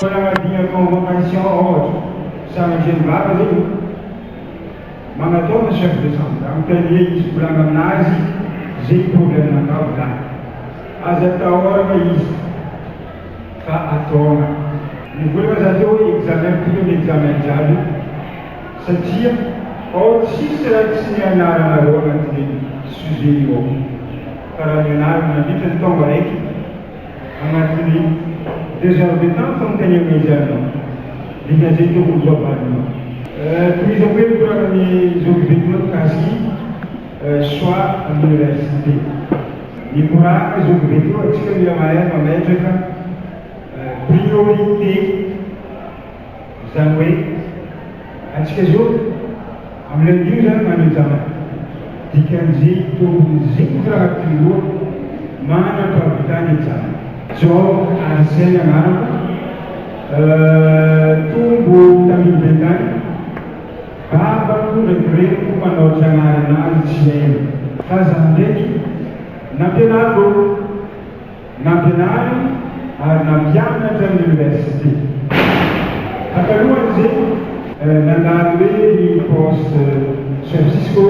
Fanaradia convocation ohatra Charge mivava ve no manatao ny chef de chambre anontaniany izy volana aminazy ze problème anao volana aza atahorana izy fa ataona ny volana za teo hoe examen pris ny examen jiaby. Satria ao tsisy raha tsy ny anarana ao anatin'io sujet io ao. Fa raha ny anarana mandritra ny taona raika anatin'ny deux heures de temps fanontaniana izany ao. Midina izay tokony ho avalinao. Tohizako hoe mikorana ny zoky Betinato Gasy soit am université. Mikorana zoky Betinato antsika mila mahay mametraka priorité. Izany hoe, antsika izao amin'ilay New izany na New Zaman, dikan'izay tombony zinga anaty loha manam-pahavitana i Jama. John ary Zeng anarako, tombo tamin'ny bentaina, babako ndraiky reniko mpanao tranary anazy tsy hainy. Fa za ndraiky, nampianariko. Nampianariny ary nampianatra ny Oniversite. Takalohan'izegny, nandalo hoe ny Post San Cisco,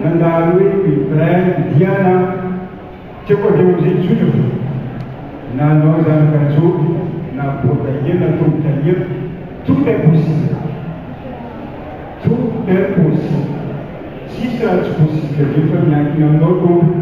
nandalo hoe ny Bryn Diana, teo koa avy eo amizay tsotra fo, nanao zanaka joby na boa tahier na tombo tahier, tout est possible, tout est possible, tsisy raha tsy possible anefa miankina aminao tompoko.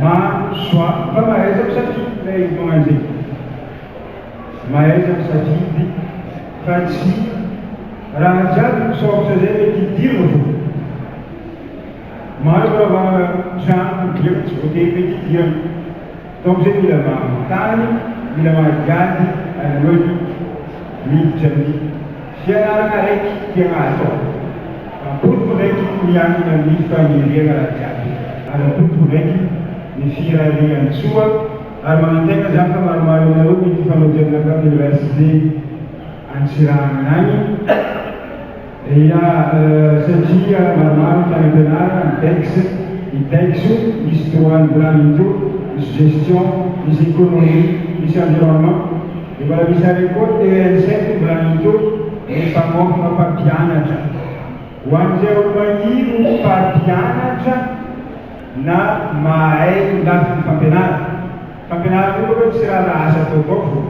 Ma joie fa mahaiza misafidy ilay vao mandeha mahaiza misafidy fa tsy raha jiaby misaoritra zay mety hidirina fô maro raha vao trano midirana tsy voatery mety hidirana donc zay mila manontany mila mandiady alohan'ny miditra amin'ny Fianarana raiky dia mahasoa. Rabotoko raiky miankina amin'ny faniriana jiaby. Rabotoko raiky ny firarian'i Tsoa ary manantena za fa maromaro aminareo mety hifanojana tany université Antsiranana any eh ya satria maromaro tany ampianarana ny dex, ny dexo, misy droit ny planning teo, misy gestion, misy economie, misy environnement. Efa misy arekoly ny ENSET mbola mitohy ny mpamoaka mpampianatra. Ho an'ireo maniry ho mpampianatra na mahay ny lafiny fampianarana, fampianarana io aloha tsy raharaha asa ataovao fô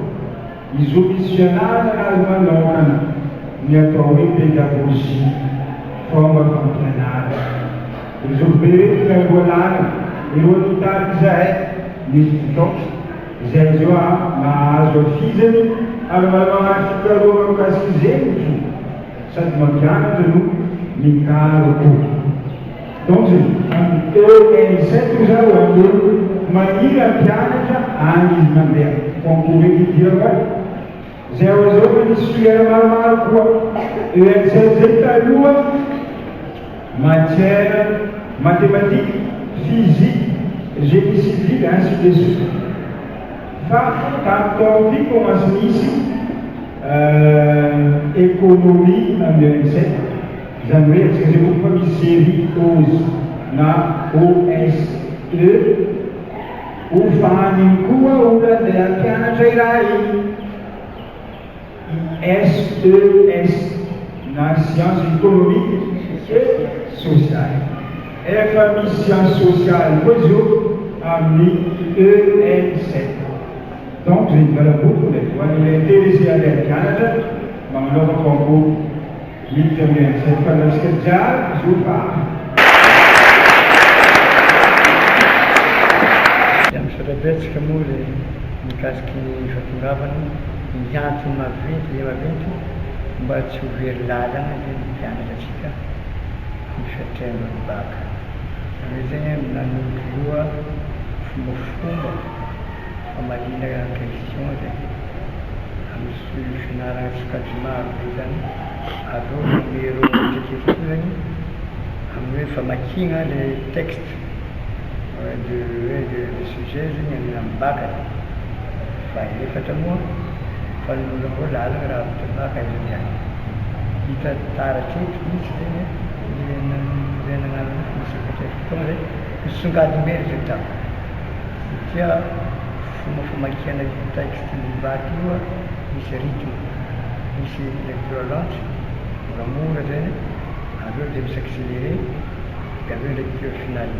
izo misy fianarana na azo manaokana ny atao hoe pédagogie, fômba fampianarana. Ry zokibe reto mialoha lalana, irô nitady izahay, nisy tsy taotry. Izay zo a nahazo hafizany ary manao ady fikarohana mikasika izegny ko sady mampianatra no mikaro ko donc ze any ENSS o za o aleo maniry hampianatra any izy mandeha concours eky idirako a. Izay ao izao fa nisy filière maromaro koa, ESS zay taloha, matière mathématique, physique, génie civil ainsi de suite. Fa tamin'ny taona ty commence nisy économie am ESS, izany hoe atsika izay koa fa misy serie ose na OSE, Ho vaniny koa olana ilay hampianatra iray SES na Sciences Economiques et Sociales. Efa misy sciences sociales koa izy io amin'ny ENSS. Donc izay ivelam-boto ilay voan'ilay intéressé an'ilay hampianatra mba manaova concours. Miditra amin'ny andro izay mpanao srja izy io fa afa. Dia misaotra betsaka moa le mikasika ny fahatongavana, ny antony maventy dia maventy mba tsy ho very lalana ve ny mpianatra tsika amin'ny fiatrehana ny bac. Zareo zay an nanondro loha fombafomba famaliana question zay. Ny fianarana sokajina aro vitany avy eo manome ireo retraketrezany amin'ny hoe famakiana le texte de hoe le sujet izy iny amin'ny amin'ny bac e! fa efatra moa fa ny loza moa lalina raha avy teo bac izy iny an! hita taratra eto mihitsy zay ny le le nanarana fotoana zay, hisongadina eny zay tamin'ny satria. Fomba famakiana io texte mivadika io a, misy rythme, misy lecture lente, moramora zay an, avy eo dia mi s'accelerer, dia avy eo lecture finale.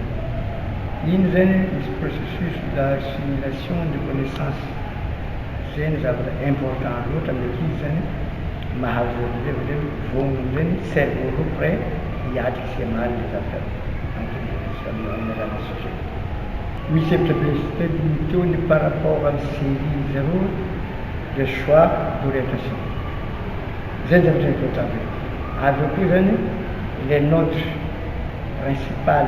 Iny zany an, misy processus d'assimilation de connaissance, zay no zavatra important loatra amin'ny ankizy zany an, mahavoa be avy eo, voany amizay ny cerveau roa prêt hiatrika sy hamaly le zavatra ankizy sy amin'ny alalan'ny son. Misy hevitra be sy telo limite ny par rapport an'i Zéry ny zéro dia choix d'orientation. Izay ny zavatra important be. Avy eo koa zany le nôtre principal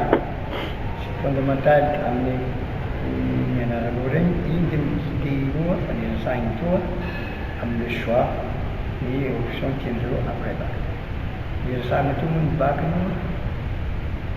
sy fondamental amin'ny nianaranao regny igny dia mi-guider inoa fa le resahigny toa amin'ny choix ny option tiandreo après bac. Ny resahagna toa moa ny bac aloha.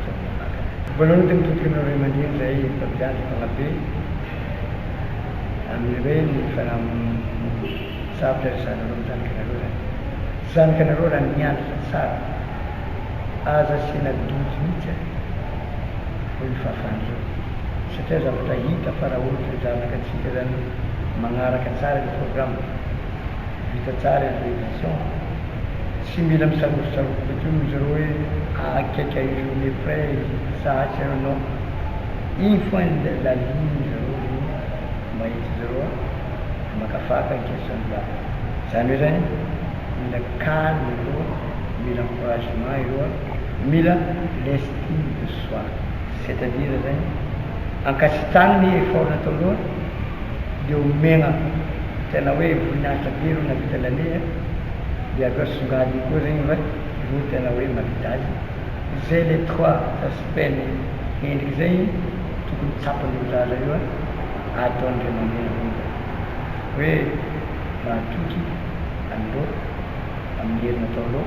izao manaraka. Voalohany dia mitodika amin'ireo ray aman-dreny izay mpampianatra mpanabe amin'ireny fiaraha-misarotra ry zareo amin'ny zanakanareo izany. Zanakanareo raha nianatra tsara, aza asiana doute mihitsy an! hoy ny fahafahan'ireo, satria zavatra hita fa raha ohatra ny zanakantsika izany manaraka tsara ilay programme, Hita tsara i André Vincent fa tsy mila misangosontsangositra intsony ry zareo hoe ahakikaka une journée près sa aiza eo non, iny foana ny la ligne ny zareo no mahita zareo a! maka faka ny question de la zany hoe zany mila calme ireo a, mila encouragement ireo a, mila l'estime de soi. C'est à dire zany ankasitrano ny effort nataonao de omegna tena hoe voninahitra be reo navita lane a de avy eo songadiny koa regny fa reo tena hoe mavita azy zay le trois aspect ny endriky zay tokony tsapan'io zaza io a ataony ray aman-dreny reo zany hoe mahatoky anareo amin'ny hery nataonao.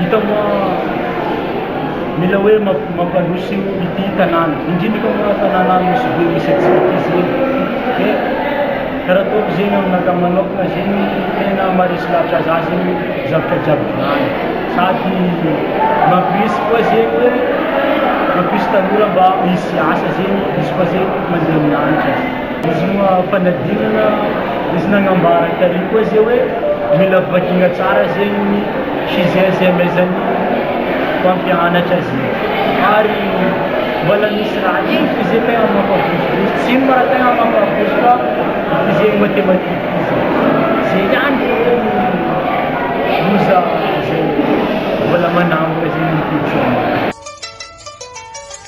Hita moa mila hoe mampandroso ity tanàna, indrindra eto aminà tanàna misy be misy antsika ity izany dia karaha ataoko izay ny aminakahy manokana izay no tena maharesy lahatra zah izay no zavatra jiaby volany sady mampirisika koa izay hoe mampirisika tanora mba hisy asa izay izy koa izay mandeha amin'ny lanitra. Zoma fanadinana izy nagnambara tary koa ze hoe mila vakina tsara zegny ny Shizens amezan'ny mpampianatra ze ary mbola misy raha hely fo ze tegna mampavozivozitra, tsy ino ma raha tegna mampavozo fa ity zegny matematika ity ze, ze ihany fo anie no loza ze mbola manangona zegny ny tetiandro.